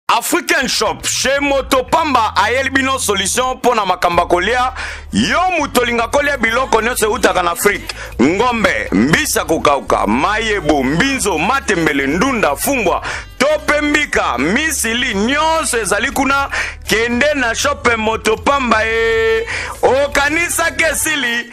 African Shop chez Moto Pamba ayeli bino solution mpo na makambo kolia yo moto olinga kolia biloko nyonso eutaka na Afrique ngombe mbisi ya kokauka mayebo mbinzo matembele ndunda fumbwa to mpe mbika misili nyonso ezali kuna kende na shope Moto Pamba e okanisaki esili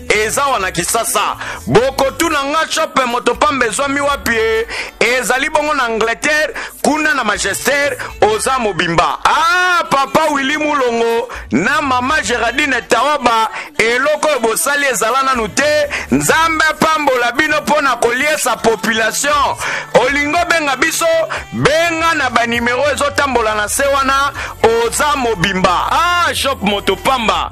eza wana kisasa bokotuna nga chope moto pamba ezwami wapi e? ezali bongo na angleterre kuna na magester oza mobimba ah, papa willi mulongo na mama gerardine taoba eloko oyo bosali ezala nanu te nzambe apambola bino mpo na koliesa population olingo benga biso benga na banimero ezotambola na se wana oza mobimba ah, shop moto pamba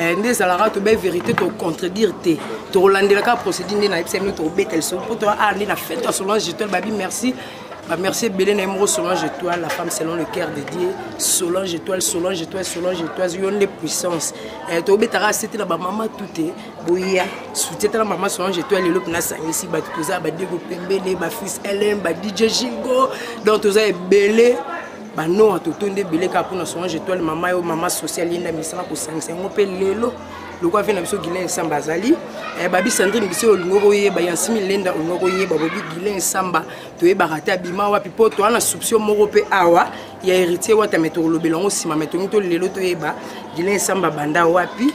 Eh, nde ezalaka tobe vérité tocontredire te tokolandela kaka procédure nde nayebisa bino tokobeta lisolo mpo toa ah nde na fete ya solange étoile babi merci bamerci ebele na ye moko solange étoile la femme selon le cœur de dieu solange étoile solange étoile solange étoile yo nde puissance eh, tobetaka sete na bamama tute boya soutien tala mama solange étoile lelo mpena asangisi bato toza badego pembele bafils lm badj jingo donc toza ebele banoa totondi ebele kaka mpona solange etoile mama yo mama social yenda misala kosangisa yango mpe lelo lokola vie na biso guilain nsamba azali eh, babi sandrine biso olingo koyeba yansimi lenda olingo koyeba bobi guilain nsamba toyebaka te abima wapi mpo toa na souption moko mpe awa ya héritier wata me tokolobela yango nsima me tongi to lelo toyeba guilain nsamba banda wapi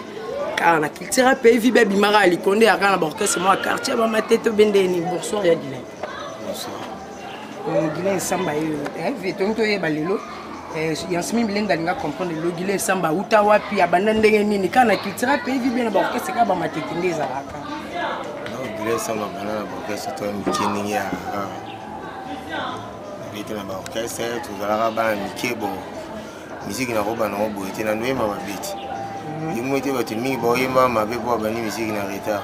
kaka na culture ya pays vibe abimaka ya likonde yaka na baorchestre mwa quartier bamatete obendeni bonsoir ya guilain Guilain Samba yo eh, vie tongi toyeba lelo eh, yansimi bilende alinga comprendre lelo Guilain Samba uta wapi abanda ndenge nini kaka na cultura mpe evi bena baorkestre kaka bamatete nde ezalaka Guilain Samba banda na baorkestre to mike ndenge ya bete na baorkestre tozalaka bana mike bo miziki nakoba nango boye te na ndoyemba mabeti yango ete bato mingi baoyemba mabe mpo babandi miziki na retard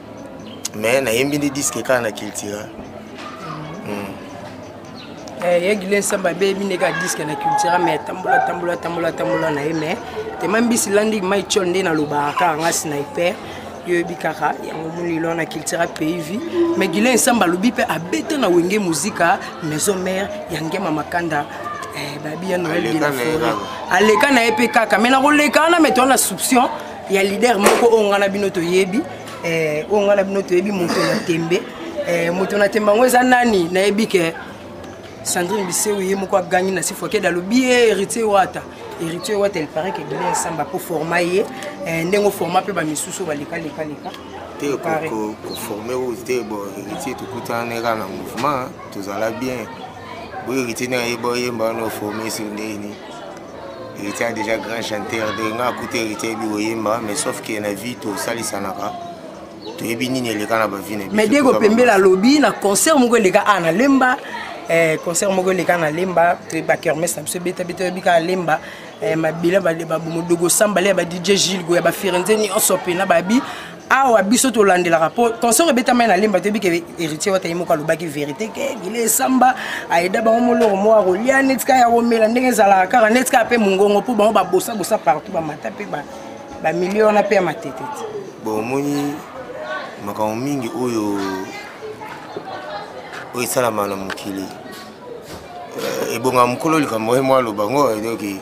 mais nayembi nde diske kaka na cultura ye gile nsambe abeyebi ndenge adiske na cultura mai atambola tambola tambola tambola na ye mai tema mbisi landi mai tiol nde nalobaka kaka nga sniper yo oyebi kaka yango molilo wana cultura pays vie mai gile nsambe alobi mpe abeta na wenge muzika maison mare ya ngema makanda eh, babi ya noel de la foret aleka na ye mpe kaka mai nakoleka wana mai toa na souption ya leader moko oyo ngai na bino toyebi eh, oyo ngai na bino toyebi moto na tembe eh, moto na tembe yango eza nani nayebi ke sandrine biseu ye moko agangi na sifokede alobi ye héritier wata héritier wata il paraît que guinée nsamba mpo forma ye eh, ndenge oforma mpe bamisusu oyo baleka leka leka te koforme oyo te bo héritier tokutana na kaka na mouvement tozala bien boyo héritier na ye boyemba wana oforme sur ndeni héritier déjà grand chanteur de nga akuti héritier yebi koyemba mais sauf que na vie tosalisanaka toyebi nini eleka na bavi na mais dego pembele alobi na concert moko eleka a na lemba eh, concert moko eleka na lemba toyeba kermes na biso ebetabeta oyebi kaka lemba eh, mabila babomodogo sambale ya ba dj gilgo ya bafirenze nyonso mpe na babi awa biso tolandelaka mpo concert ebetamai na lemba toyebi ke héritier wata ye moko alobaki verité ke gile esamba ayeda bango moloko moko akolia neti kaka ya komela ndenge ezalaka kaka neti kaka mpe mongongo mpo bango babosabosa partout bamata mpe bamilio wana mpe ya matete te bon omoni makambo mingi oyo oyo esalama na mokili euh, ebonga mokolo likambo ye mwa aloba ngo edoki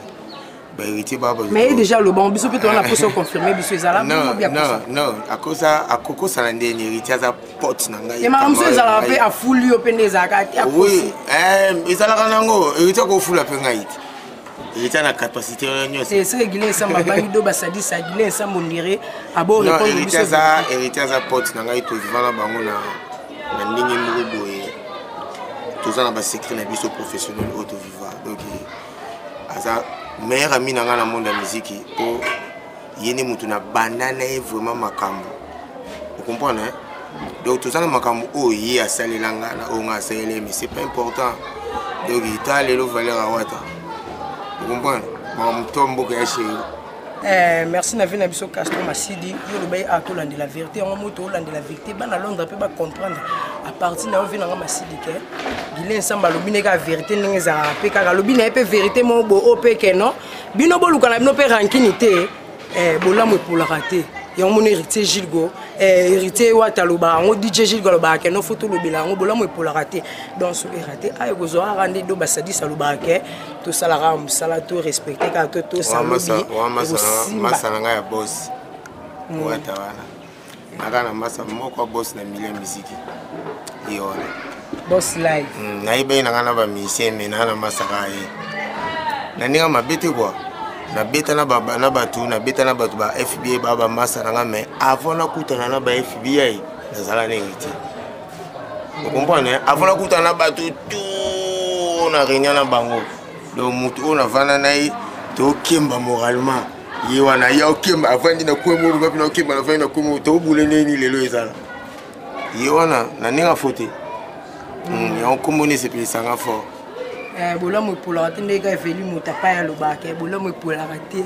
baheritier baba mais ye déjà alobango biso mpe towana poso confirme biso ezala non non non akosa akokosana nde ni héritier aza pote na ngai emaka mosusu ezalaka mpe afuli yo mpe nde ezalaka te oui eh, ezalaka nango héritier akofula mpe ngai te héritier na capacité wana nyonso ese egile ensemble abangi do basadisa agile ensemble ondire abo répondre biso aza héritier aza pote na ngai tozivana bango na na ndenge moko boye toza na basecret na biso professionnel oyo toviva donc aza meilleur ami na ngai na monde ya miziki mpo ye nde motu na banda na ye vraiment makambo okomprendre hein? donc toza na makambo oyo ye asalela ngai na oyo ngai asalela ye mais c'est pas important donc ta lelo valeur awata okomprendre makambo to mboka ya sheri Eh, merci na vie na biso castro masidi yo olobai a ah, tolandela verité yango moto olandela verité bana londre mpe bacomprendre a partir na yo vie nanga masidi ke gile nsamba alobi nde kaka verité ndenge ezalaka mpe kaka alobi na ye mpe verité moko bo o mpe ke non bino boluka na bino mpe rankini te eh, bolamu epolaka te yango mona héritier gilgo eh, héritier wata alobaka yango dj gilgo alobaka ke no fo tolobela yango bolamu epolaka te donc soki erate aye kozwaka nde do basadis alobaka ke tosala kaka mosala to respecte kaka to tosa lobi masala ngai ya bosi mm. wata wana naka na masa moko bosi na milieu miziki ye wana bos live mm, nayebaki na ngai na bamisien me naa na masaka ye na ndenge mabe te kua nabeta na bato nabeta na bato ba fbi ba bamasa na ngai me avant nakutana na ba fbi nazala ndenge te okomprendre hein? avant nakutana na bato tout na réunion na bango donc motu oyo navanda na ye tokemba moralement ye wana ye okemba avandi na kue moko bapi na okemba na avandi na kue moko tobule ndeni lelo ezala ye wana na ndenge afo te hmm, yango nkombo nde esepelisanga fort eh, bolamu epolaka te ndenge eveli moto apai alobaka eh, bolamu epolaka te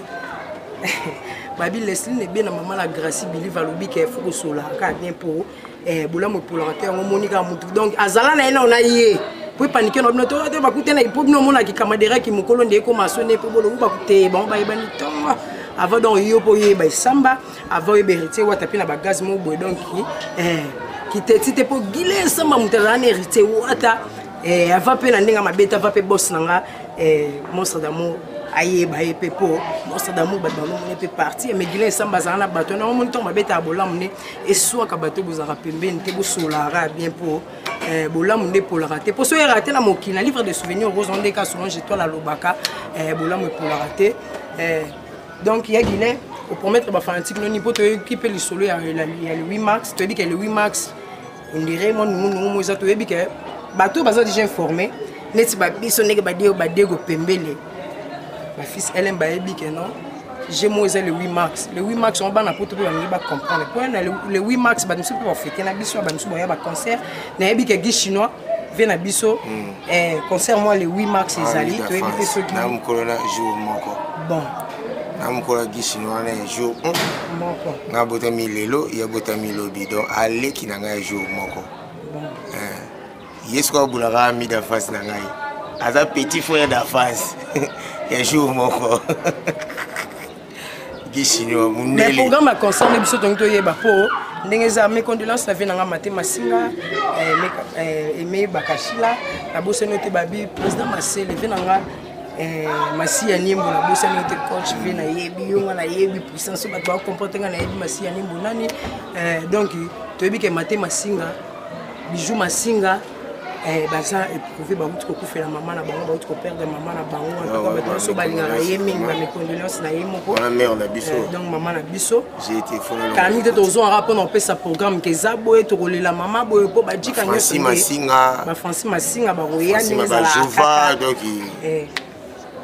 babi lesline ebe na mama na gracie bilive alobi ke fo kosolaka bien mpo eh, bolamu epolaka te yango omoni kaka motu donc azala na ye nao na ye mpo epanike na bino tote bakutana mpo bino omonaki kamaderaki mokolo nde ekoma sone mpo bolobu bakute bango bayebani tonga avant donc yo mpo oyeba esamba avant oyeba héritier wata mpe na bagaz moko boye donc eh, kiteti te mpo gile esamba moto azala na héritier wata eh, ava mpe na ndenge mabe te ava mpe bos na nga eh, monstre d'amour ayeba ye mpe mpo monstre d'amour bato bango mone mpe parti mais gile esamba azala na bato na omoni ntango babetaka bolamu ne eswaka bato bozalaka pembeni te bosolaka bien mpo eh, bolamu nde epolaka te mpo soki eyaka te na mokili na livre de souvenir okozwa nde ka solange etoile alobaka eh, bolamu epolaka te eh, donc ya guilin opromettre bafanatike noni mpo toyoki mpe lisolo ya le 8 mars toyebi ke le 8 mars ondire mwa nungunungu mo eza toyebi ke bato oyo baza déjà informe neti babiso ndenge badego badego pembele bafils elm bayebi ke non gmo eza le 8 mars le 8 mars yango bana poto mpe balingi bacomprendre mpo na le 8 mars bato mosusu mpe bafete na biso bato mosusu baya baconcert nayebi ke gi chinois mpe na biso hmm. eh, concert mwa le 8 mars ezali ah, toyebi mpe soki bon na mokolo ya gisini wana ya jour moko nga abotami lelo ye abotami lobi donc aleki na ngai ya jour moko eh. ye soki abulaka mi d'avance na ngai aza petit frère d'avance ya jour moko gisini wa mundele mais programme ya concert nde biso tongi toyeba mpo ndenge eza mes condoléances na vie na ngai mate masinga eh, eh, eme bakashila nabosani ote babi président masele vie na ngai Eh, masiya nimbo nabosani yo te coach mpe nayebi yo nga nayebi puissance oyo bato bakomprendre nga nayebi masiya nimbo nani eh, donc toyebi ke mate masinga bijou masinga eh, baza éprouvé bauti kokufela mama na bango bauti koperdre mama na bango ah, bato nyonso balingaka ye mingi bamecondoléance na ye moko donc mama na biso kani te tozongaka mpona kopesa programme ke eza boye tokolela mama boye mpo bajika nyonso bafranci masinga bakoya ndenge ezalaka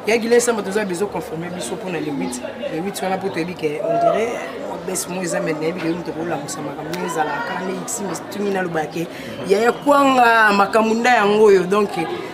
yaki lesamba toza bezo confirme biso mpona le 8 le 8 wana mpo toyebi ke on dirait bese moko eza mai nayebi keyo moto akolamusa makambo ndenge ezalaka kala nde ximi tumi nalobake yaya kwanga makambo nda yango oyo donc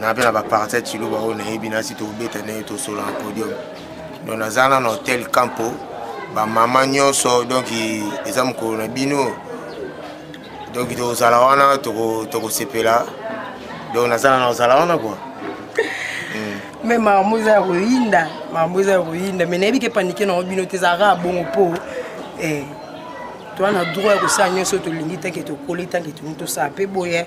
na mpe na baparti ya ciluba oyo nayebi nasi tokobeta na ye tosola na podium donc naza na na hotel campo bamama nyonso donc eza mokolo na bino donc tokozala wana tokosepela donc naza na na kozala wana kua me hmm. makambo eza ya koyinda makambo eza ya koyinda me nayebi ke panike nango bino te ezalaka bongo mpo eh, toza na droit ya kosala nyonso tolingi tanke tokoli tanke tolingi tosala mpe boye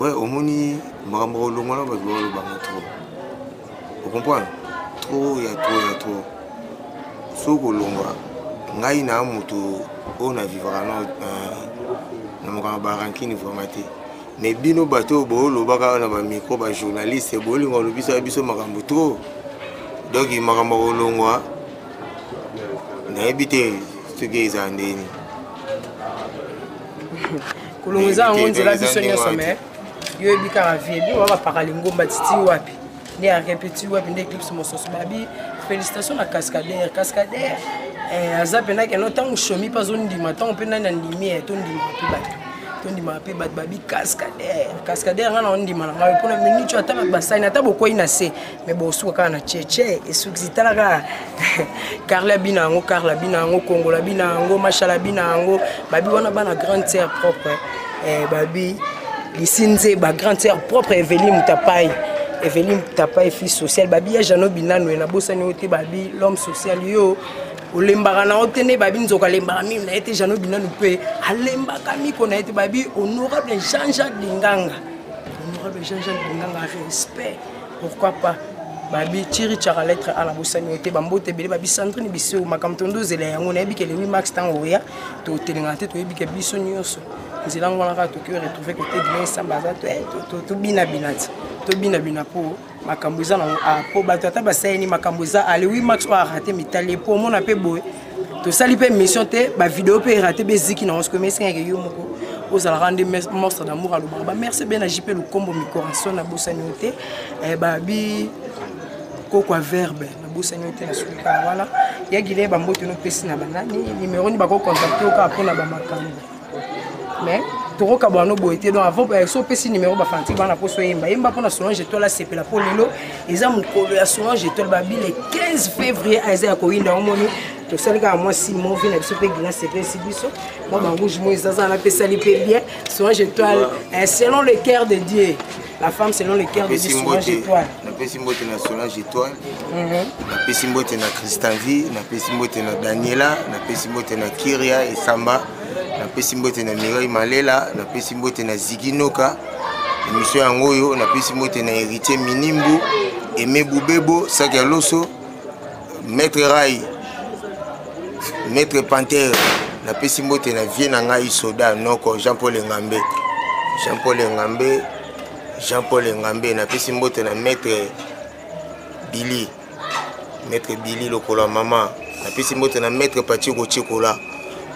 ouais omoni makambo kolongwa na bato balobanga trop ocomprendre trop ya trop ya trop soki kolongwa ngai na moto oyo na vivaka na mokanga barankini vraimen te mais bino bato oyo boolobaka na bamicro bajournaliste bolinga olobisa biso makambo trop donc makambo kolongwa nayebi te soki eza ndeni kolongo eza yango nzela biso nyonso me yo oyebi kaka vie bino babapaka lingomba titi wapi nde arepeti wapi nde eclipse mosusu babi félicitation na cascadere cascadere eh, aza mpenza keno ntango shomi mpe azondima ntango mpe nani andimi ye eh, tondimaka mpe bato tondimaka mpe bato babi cascadere cascadere ngai na ondima na ngai mpona minute ata basani ata bokwei na se me bosuka kaka na cheche esukisi tala kaka carla bina yango carla bina yango kongola bina yango mashala bina yango babi wana bana grande sœur propre eh, babi lisi nzeba grande sœur propre eveline mutapai eveline mutapai fille sociale babi ya jano binano na bosani yo te babi l'homme social yo olembaka na yo te nde babi nzoka alembaka mimi na ye te jano binano mpe alembaka miko na ye te babi honorable jean jacques linganga honorable jean jacques linganga respect pourquoi pas babi chiri chara lettre a nabosani yo te bambote ebele babi sandrine biso makambo tondo ozela yango nayebi ke lewi max ntango oya totelengana te toyebi ke biso nyonso nzela ngo wana kaka toki retrouve kote bino esamba aza eh, tobinabina ti tobinabina mpo makambo eza nango a ah, mpo bato ata basaleli makambo eza alewi ah, max oyo arate mitali mpo omona mpe boye tosali mpe mission te bavideo mpe erate mpe eziki nango sikoyo mesengaki yo moko ozalaka nde monstre d'amour alobaka bamerci be na jp lukombo micoration nabosani yo te eh, babi kokwa verbe nabosani yo te na sukaka wana ya gile bambote nopesi na banani nimero ni bakocontacte yo kaka mpo na bamakambo mais tokokabwana no boye te donc avant eh, so opesi numéro bafanatike bana mposo oyemba yemba mpo na solange etoile asepela mpo lelo eza mokolo ya solange etoile babile 15 février aza ah, ya koyinda yango moni tosali kaka mwa simo vi na biso mpe gina sepesi biso mwa barouge moi ezazana apesali mpe bien solange etoile eh, selon le cœur de dieu La femme selon le cœur de Napesi Solange mbote Etoile. napesi mbote na Solange Etoile Mhm. napesi mbote na Christian V napesi mbote na Daniela napesi mbote na Kiria Esamba napesi mbote na Mireille Malela napesi mbote na Ziggy Noka emission yango oyo napesi mbote na Heritier Minimbu Aimé Boubebo Saki ya Loso maître rai maître pantere napesi mbote na vie na ngai soda noko jean paul engambe jean paul engambe jean paul engambe napesi mbote na maître bili maître bili lokola mama napesi mbote na maître pachiko chikola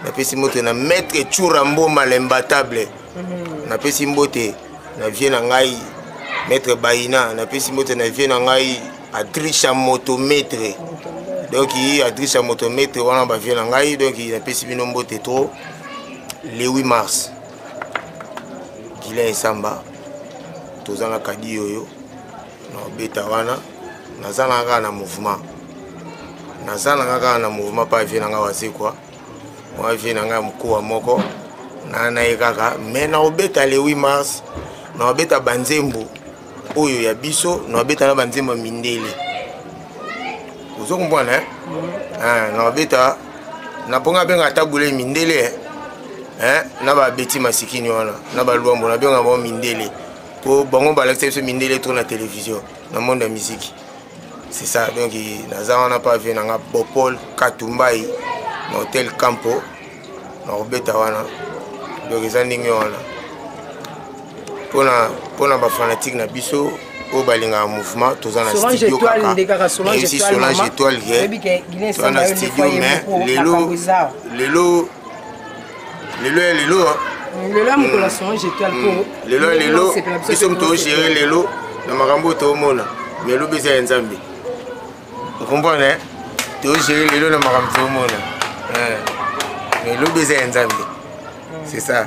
napesi mbote na maître chura mboma lembatable mhm. napesi mbote na vie na ngai maître baina napesi mbote na vie na ngai adricha motometre donc adricha motometre wana bavie na ngai donc napesi bino mbote trop le 8 mars gilain esamba toza na kadi oyo na obeta wana naza na kaka na mouvement naza na kaka na mouvement mpa vie na ngai wazekwa mwa vie na ngai mokuwa moko na na ye kaka mais na obeta le 8 mars na obeta banzembo oyo ya biso na babeta na banzembo ya mindele ozo comprendre hein? Mm. Ah, na babeta na mponga abenga ata bule mindele hein? Eh, na babeti masikini wana na balwambo nabenga bango mindele mpo bango balakisa biso mindele to na televizio na monde ya miziki c'est ça donc naza wana pa vie na nga bopol katumbai na hotel campo nakobeta wana donc eza ndenge wana mpona bafanatike na biso oyo balingaka mouvement toza na studio kaka solange étoile toza na studio mais lelo lelo lelo ya lelo lelo ya mokolo ya solange étoile mpo hmm. lelo ya lelo biso moto ogere lelo na makambo oyo toomona mais elobi eza ya nzambe okomprendre eh? togere lelo na makambo tomona eh. mais lobi eza ya nzambe hmm. c'est ça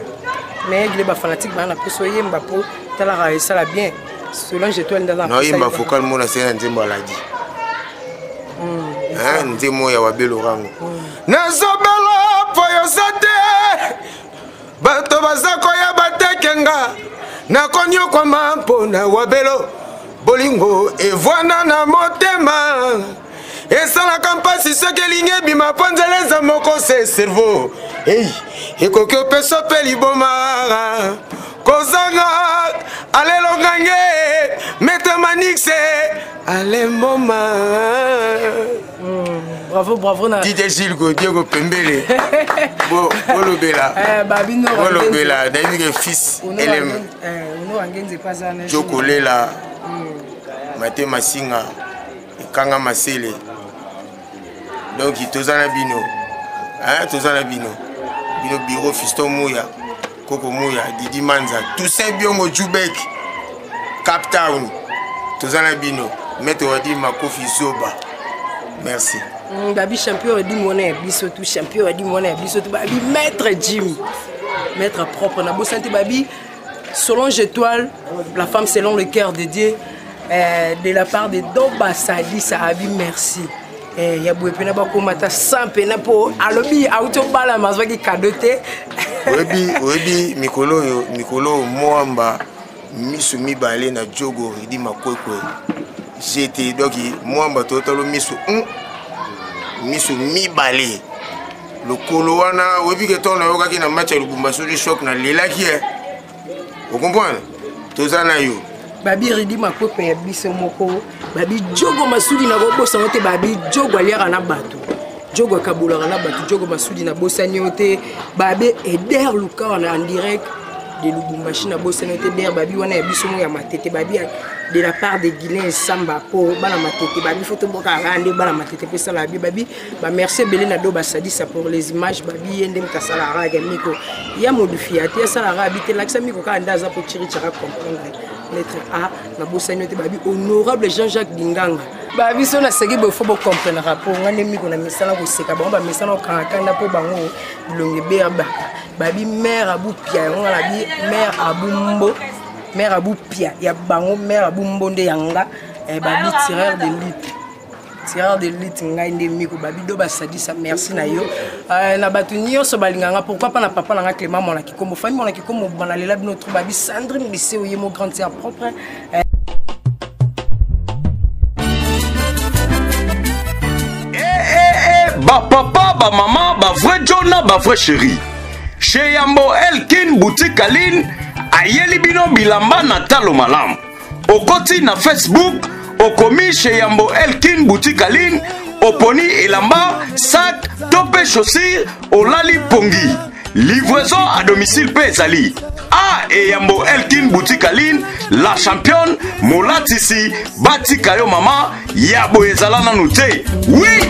mais egile bafanatique baa na poso oyemba mpo talaka esala bien solange etoile ndanaoyemba focal mona se na nzembo aladi hmm, nzembo ya wabelorango hmm. nazobela mpo yoza te bato baza koya bateke nga nakonyokwama mpo na wabelo bolingo evwana na motema esalaka mpasi soki elingi ebima mpo nzela eza moko se cerveau ei ekoki opesa mpe liboma kozanga alelongange metemanix alemboma Mm, bravo bravo na dj gilles godiego pembele bolobela eh, bolobela nayebi ke fils elem eh, jokolela mm. mate masinga ekanga masele donc toza na bino toza na bino bino biro fiston muya koko moya didi manza toussaint biongo jubek cap town toza na bino maître wadi makofi zoba merci mm, babi champion wadi mwana ya biso tu champion wadi mwana ya biso tu babi maître jim maître propre na bosani te babi solange étoile la femme selon le cœur de dieu euh, de la part de doba sadisa abi merci Eh, ya boye mpena bakoma ata 100 mpena mpo alobi auti obalama azwaki kado te oyebi oyebi mikolo oyo mikolo oyo mwamba miso mibale na jogo ridi makwekwe jete donc mwamba totalo miso mm, miso mibale lokolo wana oyebi ke ntango nayokaki na match ya lubumbashi odi shok nalelaki e eh. okomprendre toza na yo babiridi makope ya biso moko babijogo masudi na kobosango te babijogo aliaka na bato jogo akabolaka na bato jogo masudi na bosani yo te babe eder lukawa na direct de lubumbashi na bosani yo te eder babi wana ya biso moko ya matete babi de la part de guilain esamba mpo bana matete babi fo toboka kaka nde bana matete mpe esala babi babi ba merci ebele na do basalisa pour les images babi ye nde moto asalaka kaka miko ya modufi ya te asalaka kaka bite lakisa miko kaka nde aza kochirichaka comprendre lettre a nabosani yo te babi honorable jean jacques dinganga babiso naseki boye fo bocomprendaka mpo ngai nde miko na misala koseka bango bamesana kokangakanda mpo bango bilongi ebeya baka babi mare abupia yango nga nabi mare abumbo mare abupia ya bango mare abumbo nde ya nga eh, babi tireur de lite tireur de lutte ngai nde miko babido basadisa merci na yo euh, na bato nyonso balinga nga pourquoi pas na papa na nga clément mwana kikombo fami mwana kikombo banalela bino tro babi sandrine biseo ye mo grande sœur propre euh, bapapa bamama bavrai john na bavrai chéri chez yambo elkin boutique aline ayeli bino bilamba na talo malamu okoti na facebook okomi chez yambo elkin boutique aline oponi elamba sac to mpe chaussure olali pongi livraison à domicile mpe ezali a eyambo elkin boutique aline la championne molatisi batika yo mama ya boye ezala nanu te wi oui!